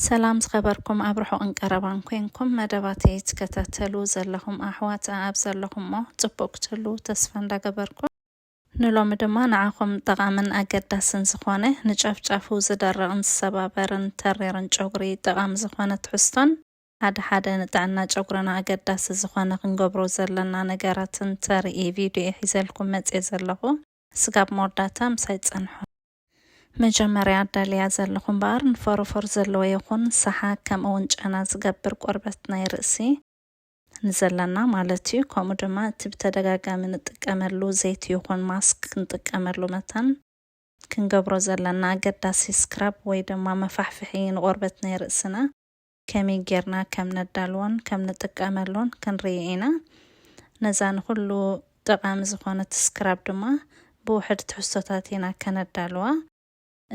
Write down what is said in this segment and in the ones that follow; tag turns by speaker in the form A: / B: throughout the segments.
A: ሰላም ዝኸበርኩም ኣብ ርሑቕን ቀረባን ኮንኩም መደባተይ ትከታተሉ ዘለኹም ኣሕዋት ኣኣብ ዘለኹሞ ጽቡቕ ክትህልዉ ተስፋ እንዳገበርኩ፣ ንሎሚ ድማ ንዓኹም ጠቓምን ኣገዳስን ዝኾነ ንጫፍ ጫፉ ዝደርቕን ዝሰባበርን ተሪርን ጨጉሪ ጠቓሚ ዝኾነ ትሕዝቶን ሓደ ሓደ ንጥዕና ጨጉርና ኣገዳሲ ዝኾነ ክንገብሮ ዘለና ነገራትን ተርኢ ቪድዮ እየ ሒዘልኩም መጽየ ዘለኹ ስጋብ መወዳእታ ምሳይ ጸንሑ። መጀመርያ ኣዳልያ ዘለኹ እምበኣር ንፎሮፎር ዘለዎ ይኹን ሰሓግ ከምኡ ውን ጨና ዝገብር ቆርበት ናይ ርእሲ፣ ንዘለና ማለት እዩ፣ ከምኡ ድማ እቲ ብተደጋጋሚ ንጥቀመሉ ዘይቲ ይኹን ማስክ ክንጥቀመሉ መታን፣ ክንገብሮ ዘለና ኣገዳሲ ስክራብ ወይ ድማ መፋሕፍሒ ንቆርበት ናይ ርእስና፣ ከመይ ጌርና ከም ነዳልዎን ከም ንጥቀመሉን ክንርኢ ኢና። ነዛ ንኹሉ ጠቓሚ ዝኾነት ስክራብ ድማ ብውሕድ ትሕዝቶታት ኢና ከነዳልዋ።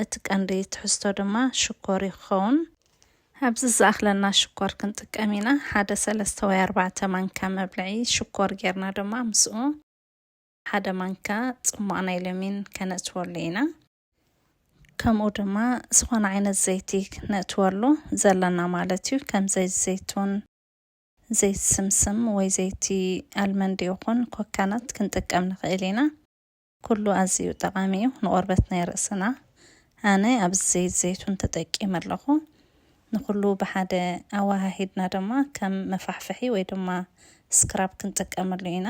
A: እቲ ቀንዲ ትሕዝቶ ድማ ሽኮር እዩ ክኸውን። ኣብዚ ዝኣኽለና ሽኮር ክንጥቀም ኢና። ሓደ ሰለስተ ወይ ኣርባዕተ ማንካ መብልዒ ሽኮር ጌርና ድማ ምስኡ ሓደ ማንካ ጽሟቕ ናይ ለሚን ከነእትወሉ ኢና። ከምኡ ድማ ዝኾነ ዓይነት ዘይቲ ክነእትወሉ ዘለና ማለት እዩ ከም ዘይቲ ዘይቱን ዘይቲ ስምስም ወይ ዘይቲ ኣልመንድ ይኹን ኮካናት ክንጥቀም ንኽእል ኢና ኩሉ ኣዝዩ ጠቓሚ እዩ ንቆርበት ናይ ርእስና ኣነ ኣብዚ ዘይቲ ዘይቱን ተጠቂመ ኣለኹ ንኹሉ ብሓደ ኣወሃሂድና ድማ ከም መፋሕፍሒ ወይ ድማ ስክራብ ክንጥቀመሉ ኢና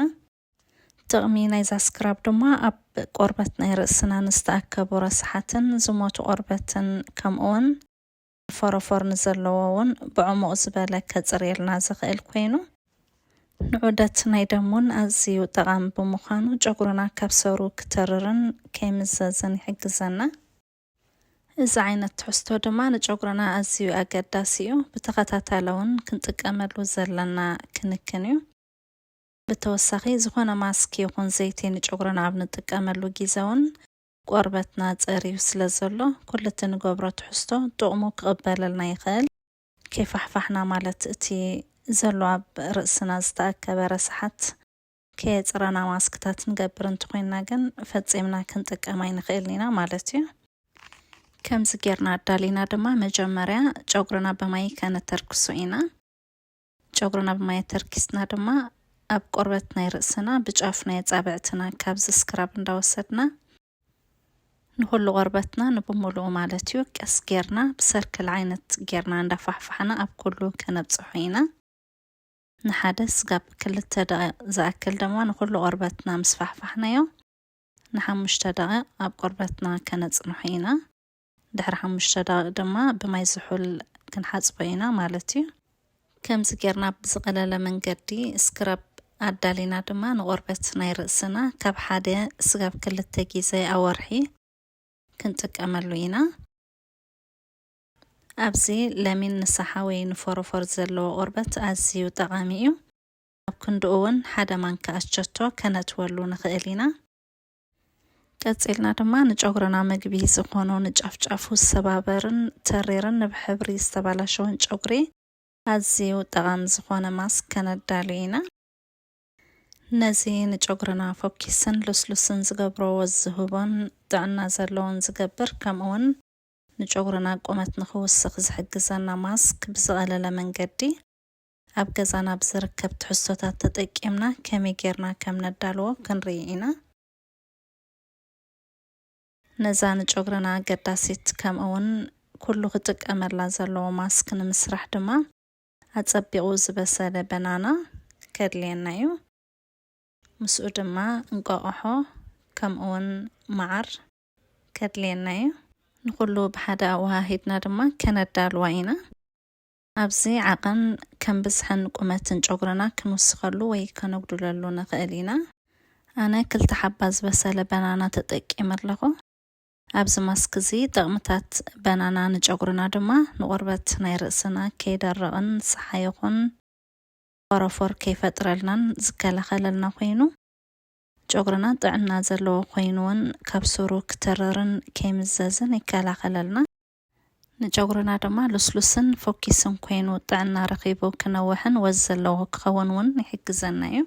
A: ጥቕሚ ናይዛ ስክራብ ድማ ኣብ ቆርበት ናይ ርእስና ንዝተኣከቡ ረሳሓትን ዝሞቱ ቆርበትን ከምኡውን ፎሮፎር ንዘለዎ ውን ብዕሙቕ ዝበለ ከጽርየልና ዝኽእል ኮይኑ ንዑደት ናይ ደም ውን ኣዝዩ ጠቓሚ ብምዃኑ ጨጉርና ካብ ሰሩ ክተርርን ከይምዘዝን ይሕግዘና። እዚ ዓይነት ትሕዝቶ ድማ ንጨጉርና ኣዝዩ ኣገዳሲ እዩ። ብተኸታታሊ ውን ክንጥቀመሉ ዘለና ክንክን እዩ። ብተወሳኺ ዝኾነ ማስክ ይኹን ዘይቲ ንጨጉርና ኣብ ንጥቀመሉ ጊዘ ውን ቆርበትና ፀርዩ ስለ ዘሎ ኩሉ እቲ ንገብሮ ትሕዝቶ ጥቕሙ ክቕበለልና ይኽእል። ከይፋሕፋሕና ማለት እቲ ዘሎ ኣብ ርእስና ዝተኣከበ ረሳሓት ከየፅረና ማስክታት ንገብር እንተኾይንና ግን ፈፂምና ክንጥቀም ኣይንኽእልን ኢና ማለት ዩ። ከምዚ ጌርና ኣዳሊና ድማ መጀመርያ ጨጉርና ብማይ ከነተርክሶ ኢና። ጨጉርና ብማይ ኣተርኪስና ድማ ኣብ ቆርበት ናይ ርእስና ብጫፍ ናይ ኣጻብዕትና ካብዚ ስክራብ እንዳወሰድና ንኹሉ ቆርበትና ንብምሉኡ ማለት እዩ ቀስ ጌርና ብሰርክል ዓይነት ጌርና እንዳፋሕፋሕና ኣብ ኩሉ ከነብጽሖ ኢና። ንሓደ ስጋብ ክልተ ደቂቕ ዝኣክል ድማ ንኹሉ ቆርበትና ምስ ፋሕፋሕናዮ ንሓሙሽተ ደቂቕ ኣብ ቆርበትና ከነጽንሖ ኢና። ድሕሪ ሓሙሽተ ደቂቅ ድማ ብማይ ዝሑል ክንሓጽቦ ኢና ማለት እዩ። ከምዚ ጌርና ብዝቐለለ መንገዲ ስክራብ ኣዳሊና ድማ ንቆርበት ናይ ርእስና ካብ ሓደ ስጋብ ክልተ ጊዘ ኣብ ወርሒ ክንጥቀመሉ ኢና። ኣብዚ ለሚን ንሳሓ ወይ ንፎሮፎር ዘለዎ ቆርበት ኣዝዩ ጠቓሚ እዩ። ኣብ ክንድኡ ውን ሓደ ማንካ ኣቸቶ ከነእትወሉ ንኽእል ኢና። ቀጺልና ድማ ንጨጉርና መግቢ ዝኾኑ ንጫፍጫፉ ዝሰባበርን ተሪርን ንብሕብሪ ዝተባላሸወን ጨጉሪ ኣዝዩ ጠቓሚ ዝኾነ ማስክ ከነዳሉ ኢና። ነዚ ንጨጉርና ፎኪስን ልስሉስን ዝገብሮ ወዝ ዝህቦን ጥዕና ዘለዎን ዝገብር ከምኡውን ንጨጉርና ቁመት ንኽውስኽ ዝሕግዘና ማስክ ብዝቐለለ መንገዲ ኣብ ገዛና ብዝርከብ ትሕዝቶታት ተጠቂምና ከመይ ጌርና ከም ነዳልዎ ክንርኢ ኢና። ነዛ ንጨጉርና ኣገዳሲት ከምኡውን ኩሉ ክጥቀመላ ዘለዎ ማስክ ንምስራሕ ድማ ኣጸቢቑ ዝበሰለ በናና ከድልየና እዩ። ምስኡ ድማ እንቋቑሖ ከምኡውን መዓር ከድልየና እዩ። ንኹሉ ብሓደ ኣወሃሂድና ድማ ከነዳልዋ ኢና። ኣብዚ ዓቐን ከም ብዝሕን ቁመትን ጨጉርና ክንውስኸሉ ወይ ከነጉድለሉ ንኽእል ኢና። ኣነ ክልተ ሓባ ዝበሰለ በናና ተጠቂመ ኣለኹ። ኣብዚ ማስክ እዚ ጠቕምታት በናና ንጨጉርና ድማ ንቆርበት ናይ ርእስና ከይደርቕን ጸሓይ ይኹን ፎሮፎር ከይፈጥረልናን ዝከላኸለልና ኮይኑ ጨጉርና ጥዕና ዘለዎ ኮይኑውን ካብ ሱሩ ክትርርን ከይምዘዝን ይከላኸለልና። ንጨጉርና ድማ ሉስሉስን ፎኪስን ኮይኑ ጥዕና ረኺቡ ክነውሕን ወዝ ዘለዎ ክኸውን ውን ይሕግዘና ዩ።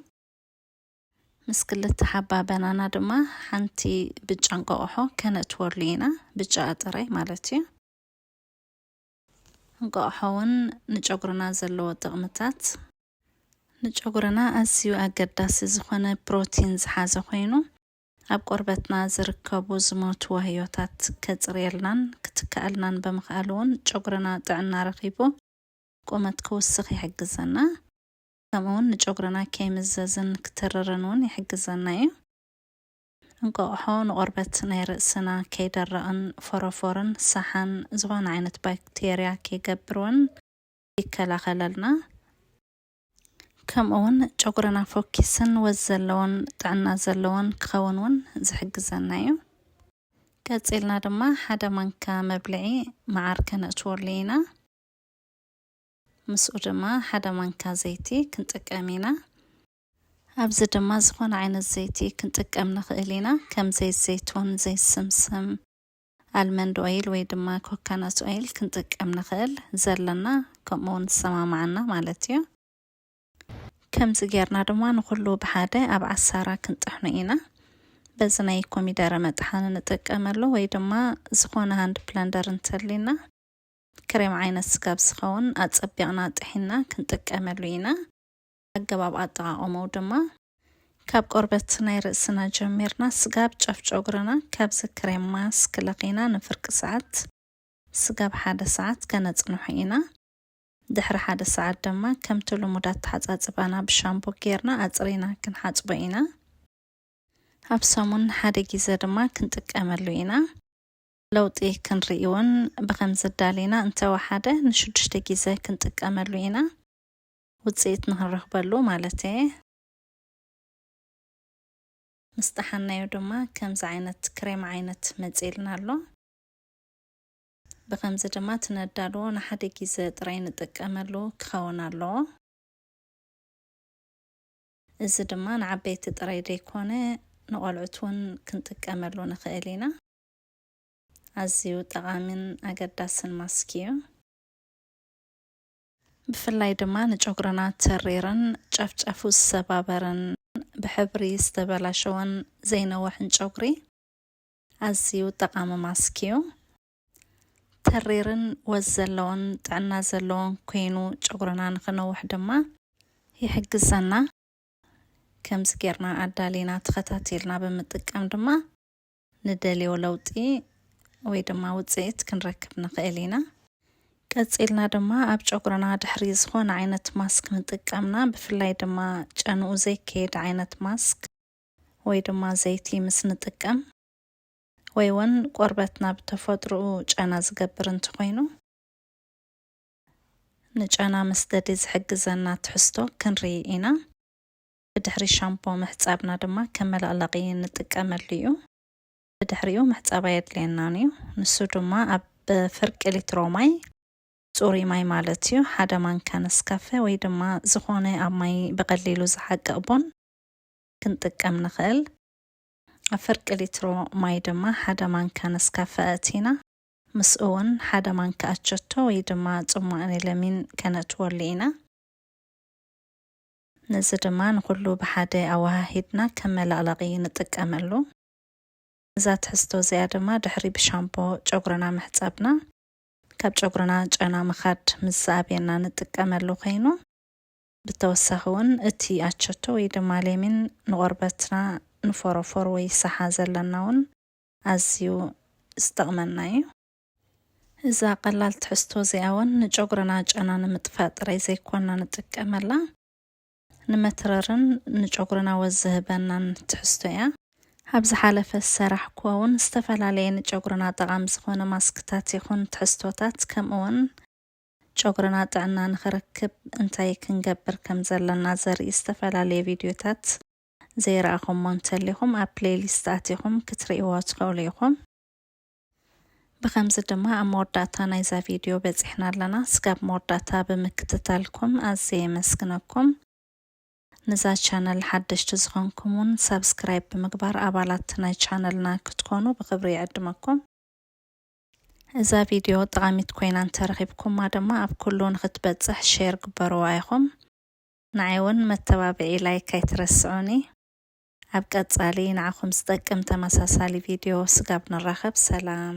A: ምስ ክልተ ሓባ በናና ድማ ሓንቲ ብጫ እንቋቑሖ ከነእትወሉ ኢና፣ ብጫኣ ጥራይ ማለት ዩ። እንቋቑሖ ውን ንጨጉርና ዘለዎ ጥቕምታት። ንጨጉርና ኣዝዩ ኣገዳሲ ዝኾነ ፕሮቲን ዝሓዘ ኮይኑ፣ ኣብ ቆርበትና ዝርከቡ ዝሞቱ ዋህዮታት ከጽርየልናን ክትከኣልናን ብምኽኣሉ'ውን ጨጉርና ጥዕና ረኺቡ ቁመት ክውስኽ ይሕግዘና። ከምኡ'ውን ንጨጉርና ከይምዘዝን ክትርርን'ውን ይሕግዘና እዩ። እንቋቑሖ ንቆርበት ናይ ርእስና ከይደርቕን ፎሮፎርን ሳሓን ዝኾነ ዓይነት ባክቴርያ ከይገብር'ውን ይከላኸለልና። ከምኡ ውን ጨጉርና ፎኪስን ወዝ ዘለዎን ጥዕና ዘለዎን ክኸውን ውን ዝሕግዘና ዩ። ቀጺልና ድማ ሓደ ማንካ መብልዒ መዓር ከነእትወሉ ኢና። ምስኡ ድማ ሓደ ማንካ ዘይቲ ክንጥቀም ኢና። ኣብዚ ድማ ዝኾነ ዓይነት ዘይቲ ክንጥቀም ንኽእል ኢና ከም ዘይት ዘይቱን፣ ዘይት ስምስም፣ ኣልመንድ ኦይል ወይ ድማ ኮካናት ኦይል ክንጥቀም ንኽእል ዘለና ከምኡ ውን ዝሰማማዓና ማለት እዩ። ከምዚ ጌርና ድማ ንኹሉ ብሓደ ኣብ ዓሳራ ክንጥሕኖ ኢና። በዚ ናይ ኮሚደረ መጥሓኒ ንጥቀመሉ ወይ ድማ ዝኾነ ሃንድ ፕለንደር እንተልዩና ክሬም ዓይነት ስጋብ ዝኸውን ኣጸቢቕና ጥሒንና ክንጥቀመሉ ኢና። ኣገባብ ኣጠቓቕምኡ ድማ፣ ካብ ቆርበት ናይ ርእስና ጀሚርና ስጋብ ጫፍ ጨጉርና ካብ ዝክሬም ማስክ ለኺና ንፍርቂ ሰዓት ስጋብ ሓደ ሰዓት ከነጽንሖ ኢና። ድሕሪ ሓደ ሰዓት ድማ ከምቲ ልሙድ ኣተሓጻጽባና ብሻምፖ ጌርና ኣጽሪና ክንሓጽቦ ኢና። ኣብ ሰሙን ንሓደ ጊዘ ድማ ክንጥቀመሉ ኢና። ለውጢ ክንርኢ ውን ብኸምዚ ኣዳሊና እንተወሓደ ንሽዱሽተ ጊዘ ክንጥቀመሉ ኢና። ውጽኢት ንኽንረኽበሉ ማለት እየ። ምስ ጠሓንናዮ ድማ ከምዚ ዓይነት ክሬም ዓይነት መጺኡልና ኣሎ። ብኸምዚ ድማ እቲ ነዳልዎ ንሓደ ግዘ ጥራይ ንጥቀመሉ ክኸውን ኣለዎ። እዚ ድማ ንዓበይቲ ጥራይ ዘይኮነ ንቆልዑት እውን ክንጥቀመሉ ንኽእል ኢና። ኣዝዩ ጠቓሚን ኣገዳስን ማስክ እዩ። ብፍላይ ድማ ንጨጉርና ተሪርን ጨፍጨፉ ዝሰባበርን ብሕብሪ ዝተበላሸወን ዘይነወሕን ጨጉሪ ኣዝዩ ጠቓሚ ማስክ እዩ። ተሪርን ወዝ ዘለዎን ጥዕና ዘለዎን ኮይኑ ጨጉርና ንክነውሕ ድማ ይሕግዘና። ከምዚ ጌርና ኣዳሊና ተኸታቲልና ብምጥቃም ድማ ንደልዮ ለውጢ ወይ ድማ ውጽኢት ክንረክብ ንኽእል ኢና። ቀጺልና ድማ ኣብ ጨጉርና ድሕሪ ዝኾነ ዓይነት ማስክ ምጥቃምና ብፍላይ ድማ ጨንኡ ዘይከየድ ዓይነት ማስክ ወይ ድማ ዘይቲ ምስ ንጥቀም ወይ እውን ቆርበትና ብተፈጥሮኡ ጨና ዝገብር እንተኾይኑ ንጨና መስደዲ ዝሕግዘና ትሕዝቶ ክንርኢ ኢና። ብድሕሪ ሻምፖ ምሕጻብና ድማ ከም መለቕለቒ ንጥቀመሉ እዩ። ብድሕሪኡ ምሕጻብ ኣየድልየናን እዩ። ንሱ ድማ ኣብ ፍርቂ ሊትሮ ማይ ጽሩይ ማይ ማለት እዩ ሓደ ማንካ ነስካፈ ወይ ድማ ዝኾነ ኣብ ማይ ብቐሊሉ ዝሓቅቕ ቡን ክንጥቀም ንኽእል። ኣብ ፍርቂ ሊትሮ ማይ ድማ ሓደ ማንካ ነስካፈ ኣእቲና ምስኡ እውን ሓደ ማንካ ኣቸቶ ወይ ድማ ጽሟቕ ኒለሚን ከነእትወሉ ኢና። ነዚ ድማ ንኹሉ ብሓደ ኣወሃሂድና ከም መለቕለቒ ንጥቀመሉ። እዛ ትሕዝቶ እዚኣ ድማ ድሕሪ ብሻምፖ ጨጉርና ምሕጻብና ካብ ጨጉርና ጨና ምኻድ ምስ ዝኣብየና ንጥቀመሉ ኮይኑ ብተወሳኺ እውን እቲ ኣቸቶ ወይ ድማ ሌሚን ንቆርበትና ንፎሮፎር ወይ ሳሓ ዘለና እውን ኣዝዩ ዝጠቕመና እዩ። እዛ ቀላል ትሕዝቶ እዚኣ እውን ንጨጉርና ጨና ንምጥፋእ ጥራይ ዘይኮና ንጥቀመላ ንመትረርን ንጨጉርና ወዝ ዝህበናን ትሕዝቶ እያ። ኣብ ዝሓለፈ ዝሰራሕኩዎ እውን ዝተፈላለየ ንጨጉርና ጠቓሚ ዝኾነ ማስክታት ይኹን ትሕዝቶታት ከምኡ እውን ጨጉርና ጥዕና ንኽረክብ እንታይ ክንገብር ከም ዘለና ዘርኢ ዝተፈላለየ ቪድዮታት ዘይረኣኹሞ እንተሊኹም ኣብ ፕሌይሊስት ኣቲኹም ክትርእይዎ ትኽእሉ ኢኹም። ብኸምዚ ድማ ኣብ መወዳእታ ናይዛ ቪድዮ በጺሕና ኣለና። ስጋብ መወዳእታ ብምክትታልኩም ኣዝየ የመስግነኩም። ንዛ ቻነል ሓደሽቲ ዝኾንኩም ውን ሳብስክራይብ ብምግባር ኣባላት ናይ ቻነልና ክትኮኑ ብኽብሪ ይዕድመኩም። እዛ ቪድዮ ጠቓሚት ኮይና እንተረኺብኩማ ድማ ኣብ ኩሉ ንኽትበጽሕ ሼር ግበርዋ ኢኹም። ንዓይ ውን መተባብዒ ላይክ ኣይትረስዑኒ። ኣብ ቀጻሊ ንዓኹም ዝጠቅም ተመሳሳሊ ቪድዮ ስጋብ ንራኸብ ሰላም።